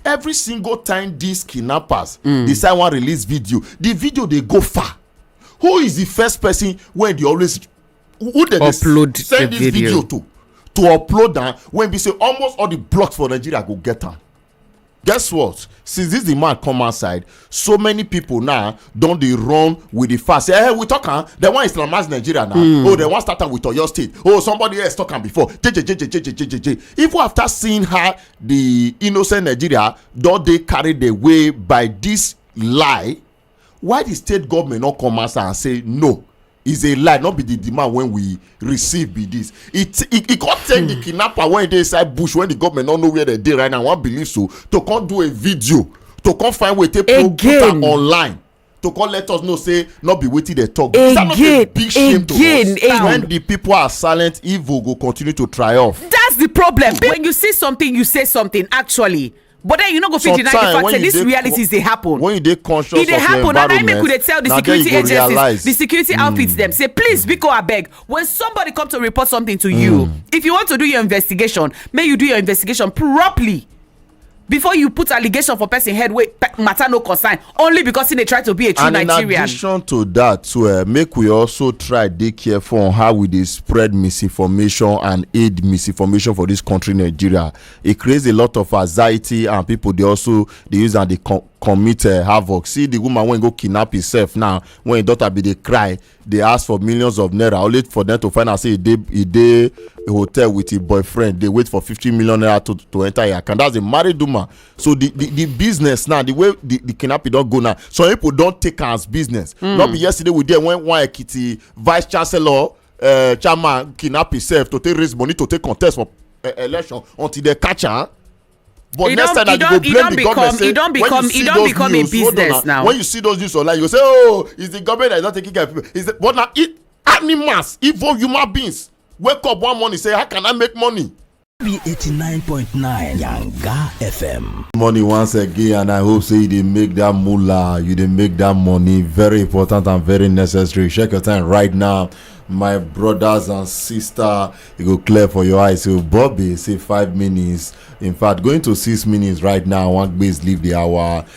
every single time these kidnappers mm. decide wan release video the video dey go far who is the first person wey dey always who dem dey send this video. video to to upload am when be say almost all the blocks for nigeria go get am guess what since this the man come outside so many people now don dey run with the fast say eh we talk am dem wan islamize nigeria now mm. oh dem wan start am with oyo state oh somebody else talk am before jejejejejejejeje even after seeing how the innocent nigeria don dey carried away by this lie why the state government no come answer and say no is a lie no be the demand wey we receive be this e e e come take the hmm. kidnapper wey dey inside bush when the government no know where dem dey right now wan believe so to come do a video to come find way take put am online to come let us know say no be wetin dem talk again that no be big shame again, to us when the people are silent evil go continue to triumph. that's the problem when you see something you say something actually. but then you no go fit deny the fact say these realities dey happen when you dey conscious e of your environment na then make we dey tell the security agencies the security hmm. outfits dem say please biko abeg when somebody come to report something to you hmm. if you want to do your investigation make you do your investigation properly before you put allegation for person head wey matter no concern only because he dey try to be a true and nigerian and in addition to that too eh, make we also try dey careful on how we dey spread misinformation and aid misinformation for this country nigeria e creates a lot of anxiety and people dey also dey use am dey com commit uh, havoc see the woman wey go kidnap herself now when her daughter bin dey cry dey ask for millions of naira only for them to find out say e dey e dey hotel with her boyfriend dey wait for fifty million naira to to enter her account that's a married woman so the the, the business now the way the, the kidnapping don go now some people don take am as business mm. no be yesterday we dey when one ekiti vice chancellor uh, chairman kidnap himself to take raise money to take contest for uh, election until they catch am but next time that you go blame the government say when you see those news hold on na when you see those news online you go say oh it's the government that is not taking care of people it's the but na animals evil human beings wake up one morning say how can i make money be 89.9 Yanga FM. Money once again, and I hope say you dey make that moolah, you dey make that money very important and very necessary. Check your time right now, my brothers and sister. It go clear for your eyes. So Bobby say five minutes. In fact, going to six minutes right now. One base leave the hour.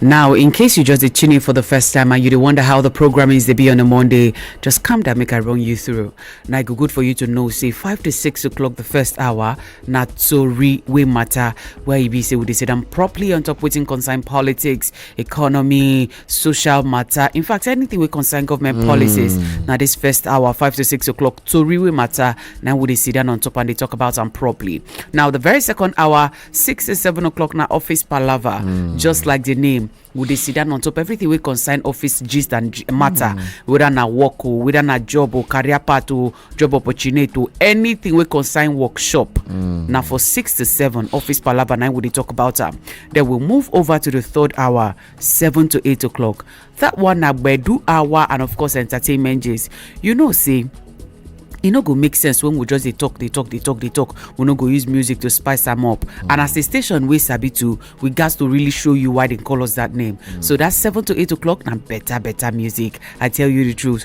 Now, in case you just dey tune in for the first time and you dey wonder how the programmings dey be on a Monday, just calm down, make I run you through. Now, it go good for you to know, say, 5 to 6 o'clock the first hour, na tori wey matter, where e be say we dey sit down properly on top wetin concern politics, economy, social matter, in fact, anything wey concern government policies. Now, this first hour, 5 to 6 o'clock, tori wey matter, now we dey sit down on top and dey talk about am properly. Now, the very second hour, six to seven o'clock na office palava mm. just like the name we dey sit down on top everything wey concern office gist and matter mm. whether na work o whether na job o career path o job opportunity o anything wey concern workshop mm. na for six to seven office palava na we dey talk about am then we move over to the third hour seven to eight o'clock that one na gbedu hour and of course entertainment gist you know say e no go make sense when we just dey talk dey talk dey talk dey talk we no go use music to spice am up and as a station wey sabi to we gats to really show you why dem call us that name so that seven to eight o'clock na better better music i tell you the truth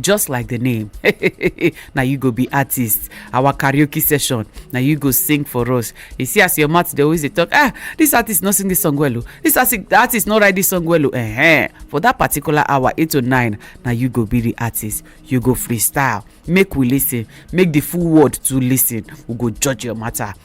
just like the name na you go be artist our karaoke session na you go sing for us you see as your mouth dey always dey talk ah this artist no sing this song well o this artist no write this song well o eh for that particular hour eight to nine na you go be the artist you go freestyle make we listen make the full world to listen we go judge your matter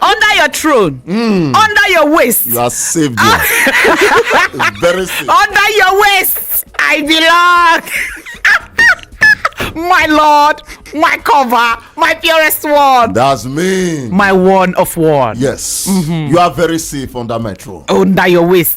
under your throne mm. under your waist you are safe there very safe under your waist i belong my lord my cover my purest one that's me my one of one yes mm -hmm. you are very safe under my throne under your waist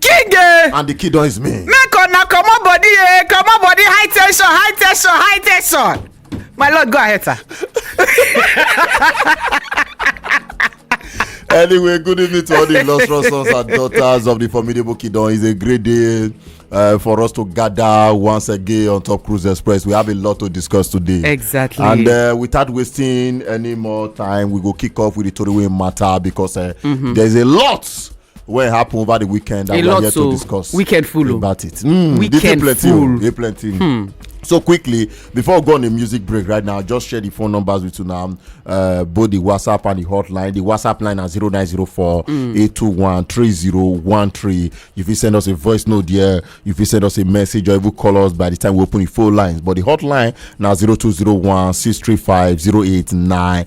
king eh and the kid don is me. make una comot body eh comot body high tension high tension high tension my lord go ahead sir. anyway good evening to all the illustrious sons and daughters of the formidable kingdom it's a great day uh, for us to gather once again on top cruise express we have a lot to discuss today exactly and uh, without wasting any more time we go kick off with the tori matter because uh, mm -hmm. there's a lot wey happen over the weekend and we are here to discuss weekend full oh. about it mm, weekend oh, full dey plenty hmm. so quickly before we go on a music break right now just share the phone numbers with you now uh, both the whatsapp and the hotline the whatsapp line na 0904 821 3013 you fit send us a voice note there you fit send us a message or even call us by the time we open the phone lines but the hotline na 0201 635 0899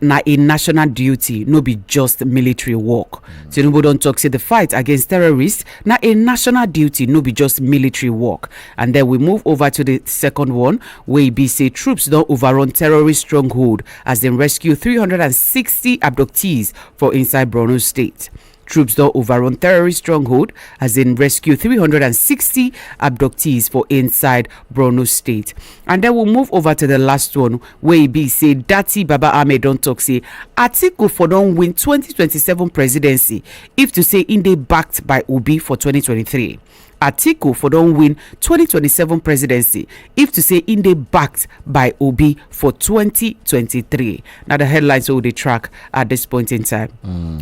na a national duty no be just military work tinubu don tok say di fight against terrorists na a national duty no be just military work and then we move over to di second one wey be say troops don overrun terrorist stronghold as dem rescue 360 abductees for inside borno state Troops don overrun terrorist stronghold as dem rescue 360 abductees for inside Borno state. And then we'll move over to the last one where e be say Dati Baba Ahmed don talk say Atiku for don win 2027 presidency if to say im dey backed by Obi for 2023. atiku for don win 2027 presidency if to say im dey backed by obi for 2023 na the headlines wey we dey track at this point in time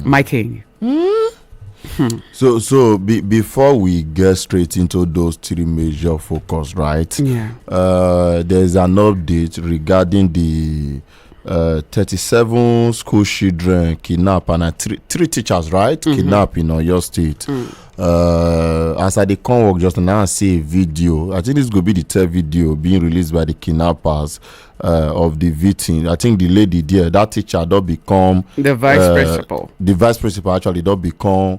my king So, so be, before we get straight into those three major focus, right? Yeah. Uh, there's an update regarding the uh, 37 school children kidnap and uh, three, three teachers right mm -hmm. kidnap in oyo state mm. uh, as i dey come work just now i see a video i think this go be the third video being released by the kidnappers uh, of the victim i think the lady there that teacher don become the vice uh, principal the vice principal actually don become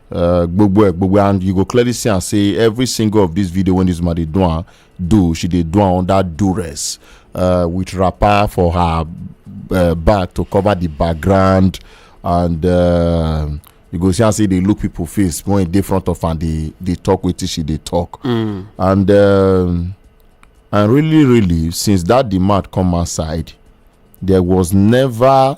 uh, gbogbo ẹ gbogbo and you go clearly see am say every single of this video wey this woman dey do am do she dey do am under duress uh, with wrapper for her uh, back to cover the background and uh, you go see am say e dey look people face when e dey front of am dey dey talk wetin she dey talk mm. and um, and really really since that demand come outside there was never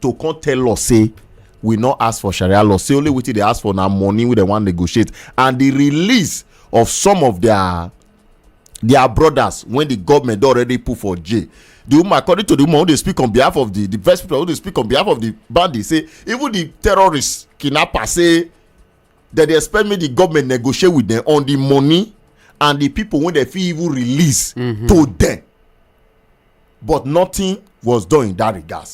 to come tell us say we no ask for sharia law say only wetin dey ask for na money wey dem wan negotiate and the release of some of their their brothers when the government don already put for jail the woman according to the woman who dey speak on behalf of the the first people who dey speak on behalf of the bandit say even the terrorists kidnappers say dem dey expect make the government negotiate with them on the money and the people wey dem fit even release mm -hmm. to them but nothing was done in that regard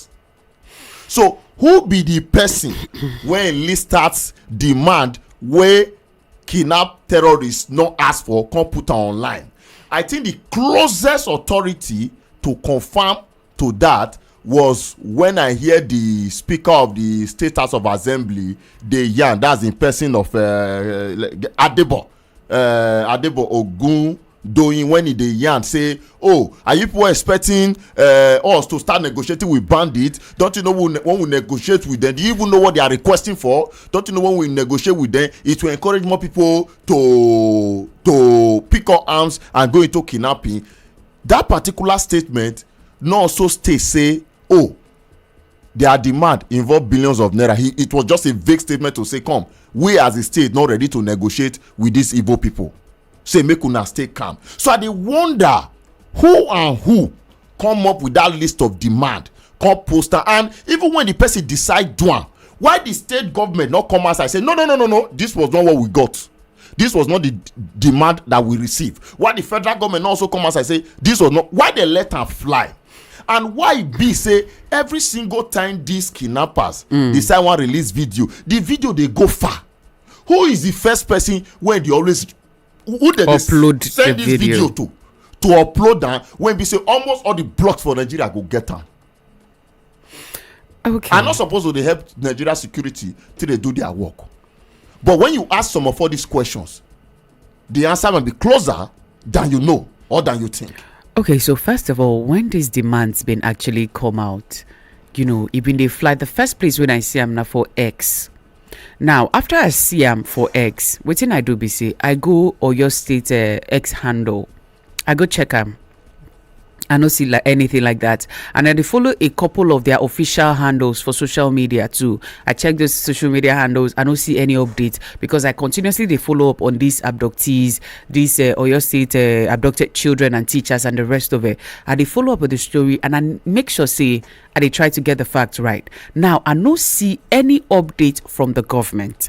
so who be the person wey list start demand wey kidnap terrorists no ask for come put am online i think the closest authority to confirm to that was when i hear the speaker of the state house of assembly dey yarn that's in person of uh, uh, adebo uh, adebo ogun doyin when e dey yarn say oh are you people expecting uh, us to start negotiating with bandits don't you know when, when we negotiate with them do you even know what they are requesting for don't you know when we negotiate with them it will encourage more people to to pick up arms and go into kidnapping that particular statement no also state say oh their demand involve billions of naira he it was just a vague statement to say come we as a state not ready to negotiate with these igbo people say make una stay calm so i dey wonder who and who come up with that list of demand come post am and even when the person decide do am why the state government not come outside say no no no no no this was not what we got this was not the d- demand that we receive why the federal government not also come outside say this was not why they let am fly and why e be say every single time these kidnappers mm. decide wan release video the video dey go far who is the first person wey dey always who dey upload send this video to to upload am when be say almost all the blocks for nigeria go get am okay i no suppose to dey help nigeria security till dey do their work but when you ask some of all these questions The answer might be closer than you know or than you think. Okay, so first of all, when these demands been actually come out, you know, even they fly the first place when I see them now for X. Now, after I see them for X, what thing I do be say I go or your state uh, X handle i go check am i no see like anything like that and i dey follow a couple of their official handles for social media too i check those social media handles i no see any update because i continuously dey follow up on these abductees these uh, oyo state uh, abducted children and teachers and the rest of it i dey follow up with the story and i make sure say i dey try to get the facts right now i no see any update from the government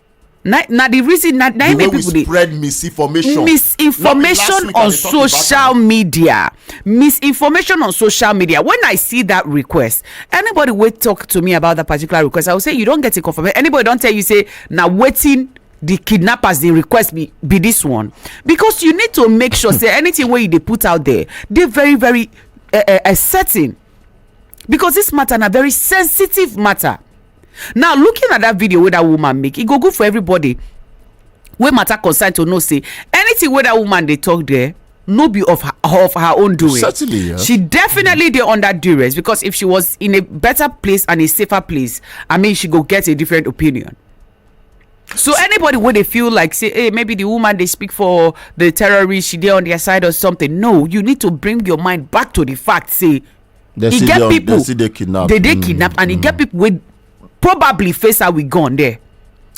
na na the reason na na make people dey spread misinformation misinformation on social media misinformation on social media when i see that request anybody wey talk to me about that particular request i go say you don get a confirmation anybody don tell you say na wetin the kidnappers dey request be be this one because you need to make sure say anything wey you dey put out there dey very very uh, uh, certain because this matter na very sensitive matter now looking at that video wey that woman make e go good for everybody wey matter concern to know say anything wey that woman dey talk there no be of her, of her own doing. Certainly, yeah. She definitely mm. dey under duress because if she was in a better place and a safer place, I mean, she go get a different opinion. So anybody would they feel like say, hey, maybe the woman they speak for the terrorist, she there on their side or something. No, you need to bring your mind back to the fact. Say They e get people they still dey kidnap they dey mm, kidnap and e get mm. people wey probably face her with gun there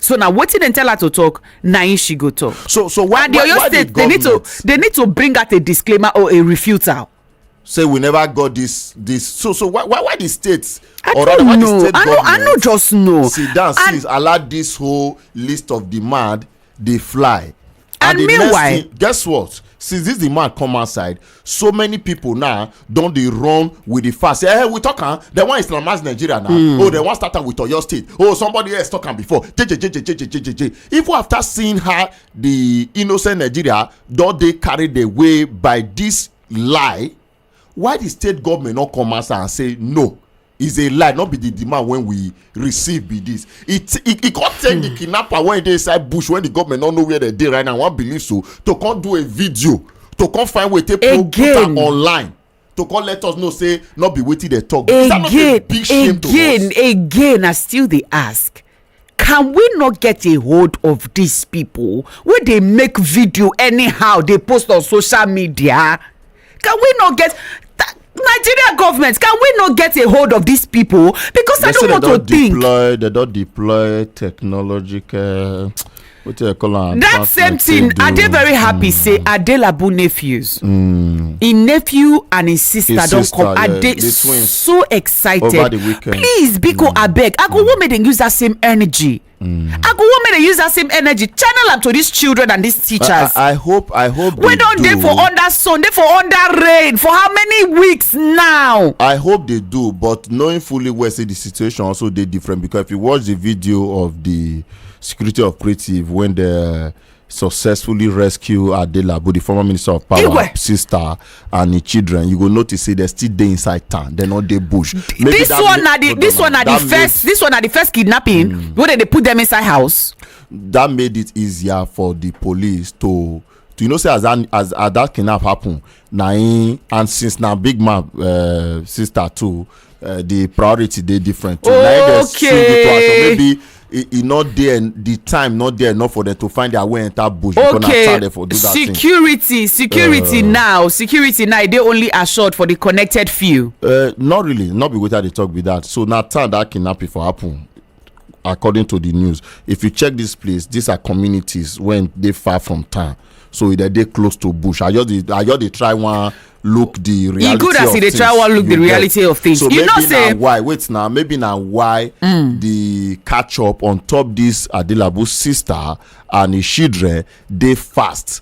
so na wetin dem tell her to talk na im she go talk so so why and the oyo state they need to they need to bring out a disclaimer or a refutal say we never got this this so so why why why the state I or rather why the state I government i no just know sit down and, see allow this whole list of demand dey fly And the next meanwhile- thing- guess what since this the man come outside so many people now don dey run with the fact say eh we talk am dem wan islamize nigeria now Hmm. oh dem wan start am with oyo state oh somebody else talk am before jejejejejejejeje even after seeing how the innocent nigeria don dey carried away by this lie why di state goment no come ansa and say no is a lie not be the demand when we receive be this it it, it can't take the hmm. kidnapper when they inside bush when the government don't know where they dey right now one believe so to come do a video to come find way take put put am online to come let us know say not be wetin dey talk again, is that not a big shame again, to us again again i still dey ask can we no get a hold of these people wey dey make video anyhow dey post on social media can we no get nigeria government can we no get a hold of these people because i don't want to think deploy they don deploy technological wetin i call am that advanced same like say thing do- i dey very happy say adelabu nephews Mm. im nephew and im sister His don sister, come i yeah, dey the twins. so Over the excited weekend. please biko abeg i go wan make dem use that same energy i go wan make dem use that same energy channel am to these children and these teachers I, I hope i hope wey they don do. dey for under sun dey for under rain for how many weeks now I hope they do, but knowing fully well, say the situation also they different because if you watch the video of the security operative when they successfully rescue Adelabu, the former minister of power, Igwe. sister, and the children, you go notice say they still dey inside town. They not dey bush. Maybe this that one make- na the no, this no, one na the that first this one na the first kidnapping mm. wey dem dey put dem inside house. Made, that made it easier for the police to. to you know say as that as, as that kidnap happen na him and since na big man uh, sister too uh, the priority dey different too na him dey swing the two action maybe e e no dey the time no dey enough for them to find their way enter bush because na Okay, time for do that thing. security, security now, security now. They only assured for the connected few. Uh, not really not be wetin i dey talk be that so na time that kidnapping for happen according to the news if you check this place these are communities when they far from town so e dey close to bush i just dey i just dey try one look the reality e good as e dey try one look the reality of things so you know say maybe na why wait na maybe na why mm. the catch up on top this adilabu sister and his children dey fast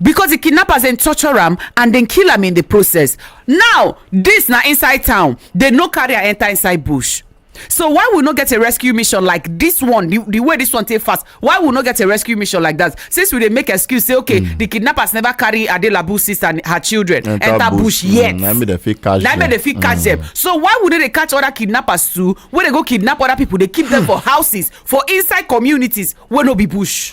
because di kidnappers dem torture am and dem kill am in di process now dis na inside town dem no carry am enter inside bush so why we no get a rescue mission like dis one di way dis one take fast why we no get a rescue mission like dat since we dey make excuse say okay di mm. kidnappers never carry adelabu sister and her children enter bush mm, yet na make dem fit catch dem mm. so why we no dey catch other kidnappers too wey dey go kidnap other people dey keep them for houses for inside communities wey no be bush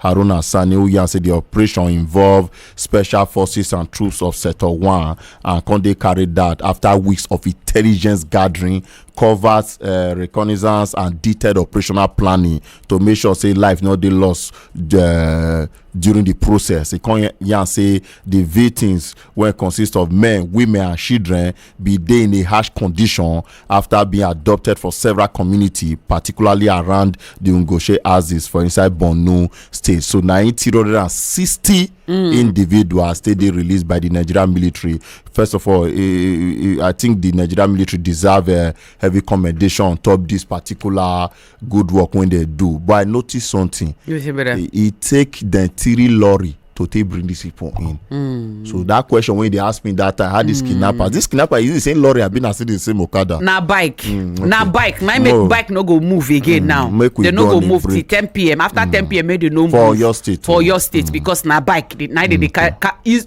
Haruna Sani who yarn say di operation involve special forces and troops of Sector 1 and come dey carried out after weeks of intelligence gathering, covert uh, reconnaissance and detailed operational planning to make sure say life no dey lost uh, during di process. E come yarn say di victims wey consist of men, women and children bin dey in a harsh condition afta being abducted for several community particularly around di ngoshe axis for inside borno state so na im 360 individuals take dey released by di nigerian military first of all eh, eh, eh, i think di nigerian military deserve eh, heavy commendation on top dis particular good work when they do but i notice something You see better. e e take dem three lorry to take bring these people in Mm. so that question wey dey ask me that time how this kidnapper this kidnapper is it the same lorry abi na still the same okada na bike na bike na im make Mo- bike no go move again now make we they no go go on a move till break. ten pm after ten pm make they no move For Oyo State, for mm. oyo state because na bike dey- na im dey dey carry ca- use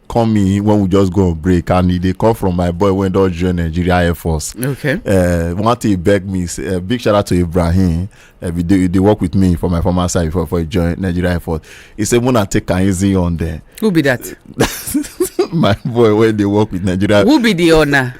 come in when we just go on break and e dey come from my boy wey don join nigeria air force okay uh, one thing he beg me say uh, big shout out to ibrahim uh, he, dey, he dey work with me for my former side before before he join nigeria air force he say muna take am easy on there. who be that. my boy wey dey work with nigeria. who be the owner.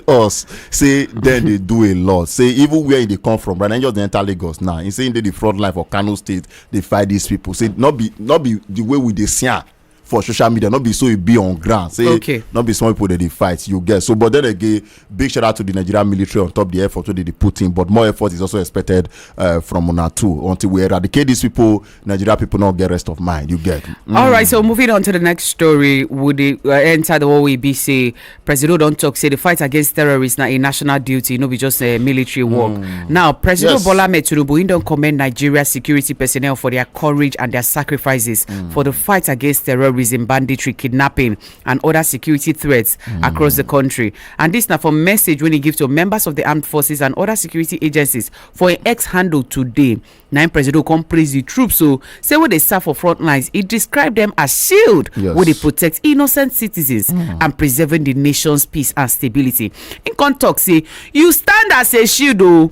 us say dem dey do a lot say even where e dey come from right now just dey enter lagos now he say he dey the front line for kano state dey fight these people say no be no be the way we dey see am for social media not be so e be on ground say okay. not be small people that they fight you get so but then again big shout out to the nigerian military on top the effort wey dey put in but more effort is also expected uh, from una too until we eradicate these people nigeria people not get rest of mind you get. Mm. all right so moving on to the next story would it uh, enter the whole abc presido don talk say the fight against terrorists na a national duty no be just a eh, military work mm. now presido yes. bola ahmed tinubu he don commend nigeria security personnel for their courage and their sacrifices mm. for the fight against terrorism banditry kidnapping and other security threats mm. across the country and this na for message wey he give to members of the armed forces and other security agencies for im x handle today na im presido come praise di troops o say wey dey serve for front lines e describe dem as shield wey dey protect innocent citizens hmm. and preserving di nation's peace and stability im come tok say you stand as a shield o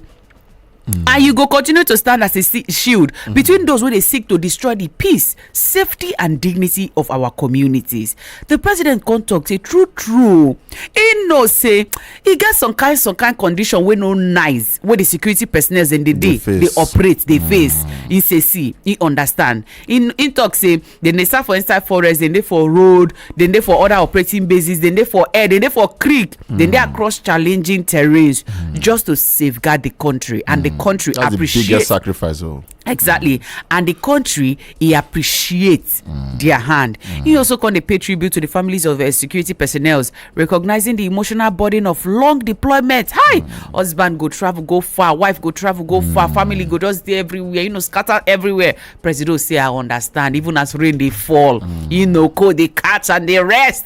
hmm. and you go continue to stand as a shield hmm. between those wey dey seek to destroy di peace safety and dignity of our communities di president come tok say true true e know say e get some kind some kind condition wey no nice wey di security personnel dem dey dey dey operate dey mm. face e say see e understand e tok say dem dey serve for inside forest dem dey for road dem dey for other operating bases dem dey for air dem dey for creek dem dey mm. across challenging terrains mm. just to safeguard di country and di country appreciate sacrifice oh. exactly and the country he appreciates mm. their hand mm. he also come dey pay tribute to the families of uh, security personnel recognizing the emotional burden of long deployment hi mm. husband go travel go far wife go travel go mm. far family go just dey everywhere you know scatter everywhere presido say i understand even as rain dey fall mm. you know cold dey catch and dey rest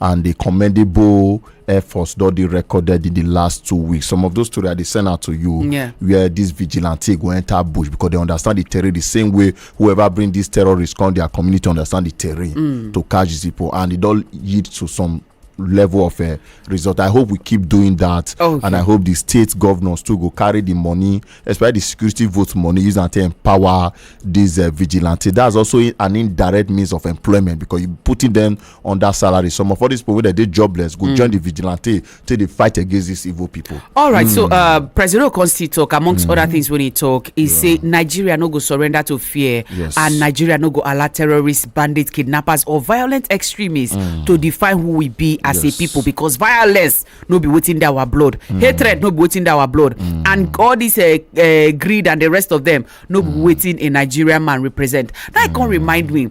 and the commendable efforts don dey recorded in the last two weeks some of those stories i dey send out to you Yeah. where this vigilante go enter bush because they understand the terrain the same way whoever bring these terrorists come their community understand the terrain to catch these people and it don lead to some level of uh, result i hope we keep doing that Okay. and i hope the state governors too go carry the money especially the security vote money use am take empower these uh, vigilante that's also i- an indirect means of employment because you putting them on that salary some of all these people wey dem dey jobless go join the vigilante take dey fight against these evil people. All right, so uh, President Okon still talk amongst other things when he talk. He say Nigeria no go surrender to fear, Yes. and Nigeria no go allow terrorists, bandits, kidnappers, or violent extremists to define who we be as Yes. a people. Because violence no be waiting that our blood, hatred no be waiting that our blood, and all this uh, uh, greed and the rest of them no be waiting a Nigerian man represent. That can remind me.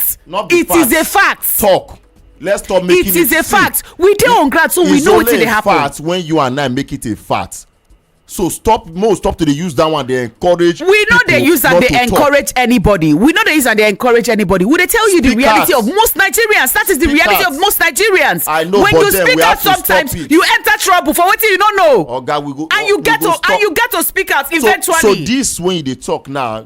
fact not be it fact. is a fact talk let's stop making it is a fact we dey on ground so we know wetin dey happen it's only a fact when you and i make it a fact so stop mo stop to dey use that one dey encourage we no dey use am dey encourage anybody we no dey use am dey encourage anybody we dey tell you the reality of most nigerians that is the reality of most nigerians i know when you speak out sometimes you enter trouble for wetin you no know oga we go and you get to and you get to speak out eventually so so this when you dey talk now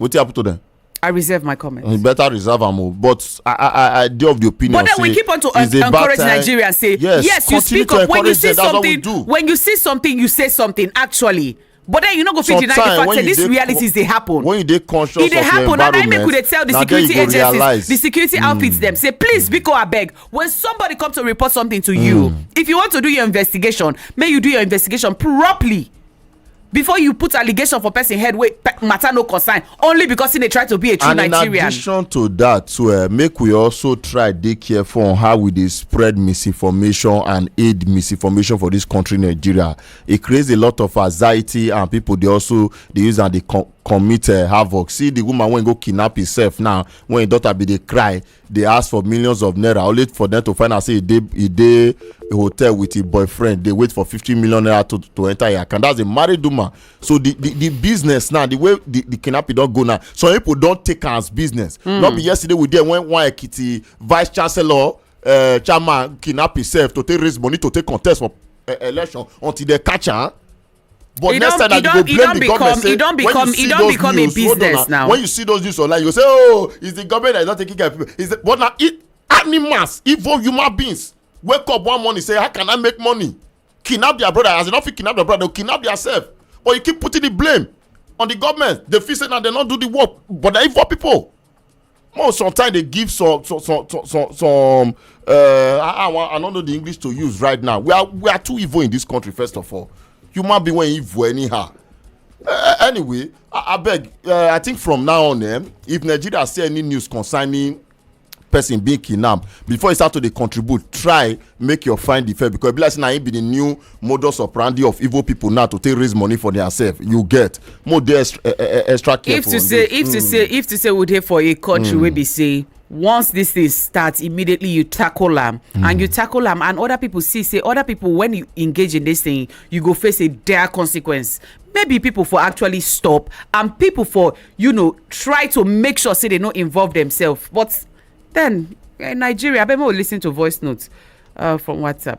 wetin happen to them. I reserve my comment. You better reserve am o but I I I dey of the opinion say but then we keep on to en encourage Nigerians say yes, yes you speak up when you see something when you see something you say something actually but then you no go fit deny the fact say these realities dey happen when you dey conscious of your environment na then you go dey tell the security agencies the security hmm. outfits dem say please biko abeg when somebody come to report something to you hmm. if you want to do your investigation make you do your investigation properly before you put allegation for person head wey matter no concern only because he dey try to be a true and nigerian. and in addition to that too uh, make we also try dey careful on how we dey spread misinformation and aid misinformation for this country nigeria e create a lot of anxiety and people dey also dey use am dey com commit uh, havoc see the woman wey go kidnap herself now when her daughter bin dey cry dey ask for millions of naira only for dem to find out say e dey e dey hotel with im boyfriend dey wait for fifty million naira to to enter im account that's a married woman so the the the business now the way the the kidnapping don go now some people don take am as business hmm. no be yesterday we dey when one ekiti vice chancellor uh, chairman kidnap himself to take raise money to take contest for uh, election until they catch am. but next time that you go blame the government say when you see those news hold on na when you see those news online you go say oh it's the government that is not taking care of people it's the but na it animals evil human beings wake up one morning say how can i make money kidnap their brother as you no fit kidnap their brother they kidnap theirself but you keep putting the blame on the government they feel say na they no do the work but na evil people more sometimes they give some some some some, some uh, I, I, I don't know the english to use right now we are we are too evil in this country first of all human being when evil anyhow uh, anyway i, I beg uh, i think from now on eh, if nigeria see any news concerning person being kidnapped before you start to dey contribute try make your find the fair because e be like say na him be the new modus operandi of evil people now to take raise money for themselves you get more dey extra, uh, eh, eh, eh, extra careful. if to say if mm. to say if to say we dey for a country mm. wey be say once this thing start immediately you tackle am mm. and you tackle am and other people see say other people when you engage in this thing you go face a dire consequence maybe people for actually stop and people for you know try to make sure say they no involve themselves but then in nigeria abeg make we lis ten to voice notes uh, from whatsapp.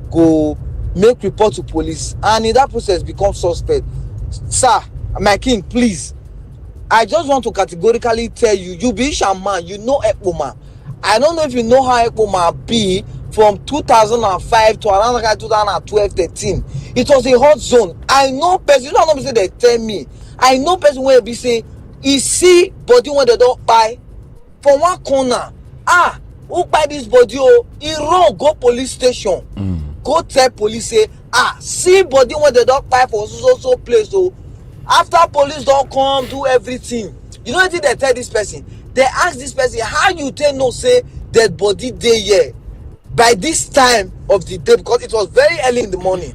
go make report to police and in that process become suspect sir my king please i just want to categorically tell you you be isha man you know ekpoma i don't know if you know how ekpoma be from 2005 to around like 2012 13 it was a hot zone i know person you know how say they tell me i know person wey be say e see body wey dem don kpai for one corner ah who kpai this body o e run go police station mm. go tell police say ah see body wey dem don kpai for so so so place o after police don come do everything you know wetin dem tell this person dem ask this person how you take know say dead body dey here by this time of the day because it was very early in the morning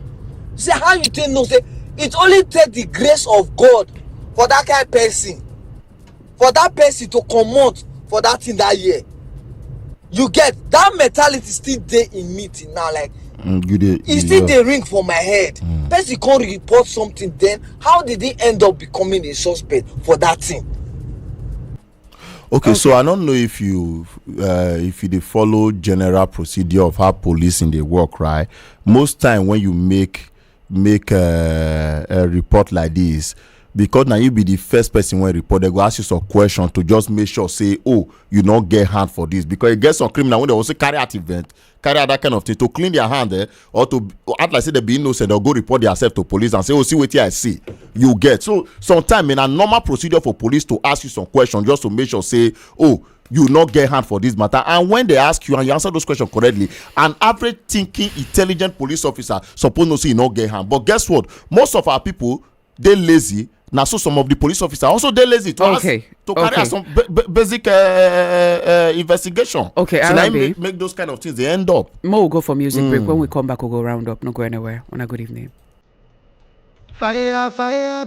say how you take know say it only take the grace of god for that kind person for that person to comot for that thing that year you get that mentality still dey in me till now like mm, you dey e still dey ring for my head mm. person come report something then how did he end up becoming a suspect for that thing. okay so i no know if you uh, if you dey follow general procedure of how policing dey work right most time when you make make uh, uh, report like this because na you be the first person wey report dem go ask you some question to just make sure say oh you no get hand for this because e get some criminal wey dey also carry out event carry out that kind of thing to clean their hand eh, or to act like say dem be innocent or go report theirself to police and say oh see wetin i see you get so sometimes na normal procedure for police to ask you some question just to make sure say oh you no get hand for this matter and when they ask you and you answer those questions correctly an average thinking intelligent police officer suppose know say you no get hand but guess what most of our people dey lazy na so some of the police officers also dey lazy to okay. ask to carry okay. out some basic uh, uh, investigation okay so na make, make those kind of things dey end up more we go for music mm. break hmm. when we come back we go round up no go anywhere on a good evening fire fire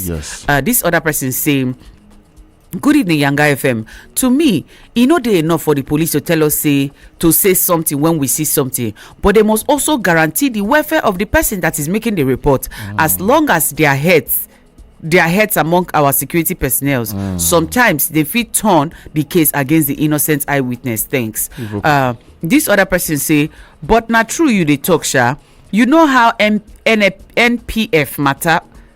Yes. Yes. Uh, this other person saying. good evening yanga fm to me e no dey enough for the police to tell us say to say something when we see something but they must also guarantee the welfare of the person that is making the report mm. as long as their heads their heads among our security personnel mm. sometimes they fit turn the case against the innocent eyewitness thanks uh, this other person say but na true you dey talk sha you know how M- N- npf matter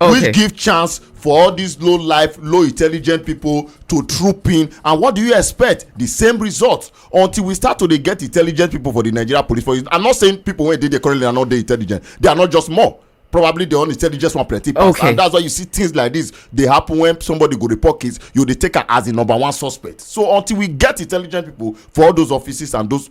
Okay. which give chance for all these low life low intelligent people to troop in and what do you expect the same result until we start to dey get intelligent people for the nigeria police force i'm not saying people wey dey there currently are not dey intelligent they are not just more probably the only intelligence one plenty pass okay. and that's why you see things like this dey happen when somebody go report case you dey take am as the number one suspect so until we get intelligent people for all those offices and those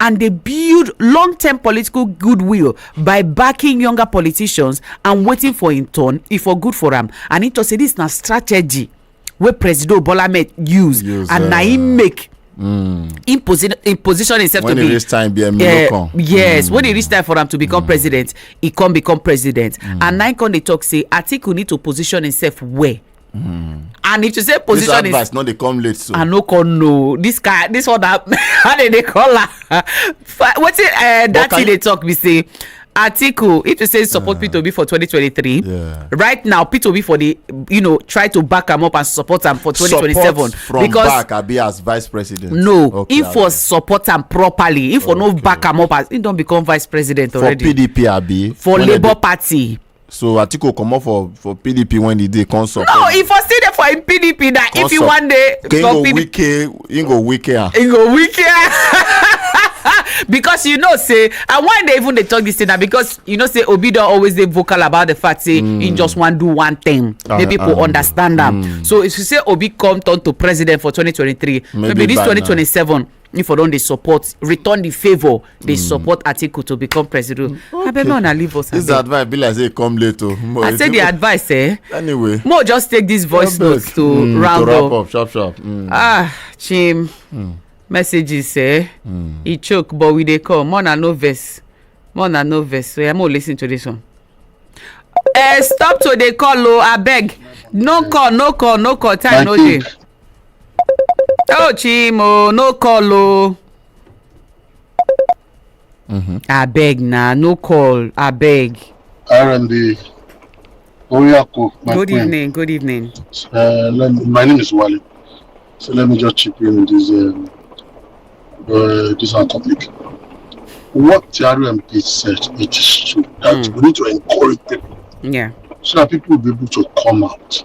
and dey build long term political goodwill by backing younger politicians and waiting for im turn e for good for am and im tok say dis na strategy wey presido bola ahmed use Use, and na eh, im make im posi- im position himself When to e be reach time, be Emilio eh, come. yes when e reach time for am to become president e come become president and na im come dey talk say atiku need to position himself well Mm. and if to say position this advice is no dey come late so i no come know this guy this one that how they dey call am wetin uh, that thing dey talk be say article if you say support uh, p2b for 2023 yeah. right now p2b for the you know try to back am up and support am for 2027 support from because back abi as vice president no okay, if for support am properly if for okay. no back am up as he don become vice president already for pdp abi for labour party so atiku comot for for pdp when e dey come support no e for still dey for im pdp na if you wan dey for pdp wike im go wike am im go wike am because you know say and why they even dey talk this thing na because you know say obi don always dey vocal about the fact say mm. he just wan do one thing ah, make people ah, ah. understand am mm. so if you say obi come turn to president for 2023 maybe, maybe this 2027 if i don dey support return the favour dey hmm. support atiku to become president hmm. abeg make una leave us abeg. this advice be like say e come late o. Oh. i say the advice eh. anyway mo just take this voice note to mm, round up. to wrap up sharp sharp. Mm. ah chim mm. messages eh. Mm. e choke but we dey come more na no vex more na no vex so yeah, mo lis ten to this one. Uh, stop to dey call o oh, abeg no call no call no call time no dey. oh chimo no call o abeg na no call abeg RMB Oyako, my good friend. evening good evening Uh, let me- my name is Wale. So let me just chip in with this um, uh, this our topic. What the RMP said, it is true that Mm. we need to encourage people yeah so that people will be able to come out.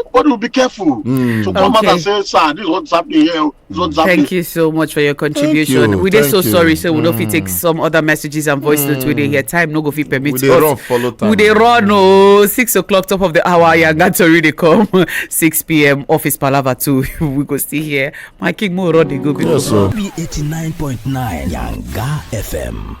everybody will be careful mm. to come okay. out and say sir this is what's happening here oh, this is what's happening. thank you so much for your contribution you, we dey so you. sorry say so we mm. no fit take hmm. some other messages and voice notes mm. we dey hmm. hear time no go fit permit we dey run follow time we dey run oh, six o'clock top of the hour yanga tori dey come six pm office palava too we go still hear my king mo run dey go. yes sir. eighty nine point nine yanga fm.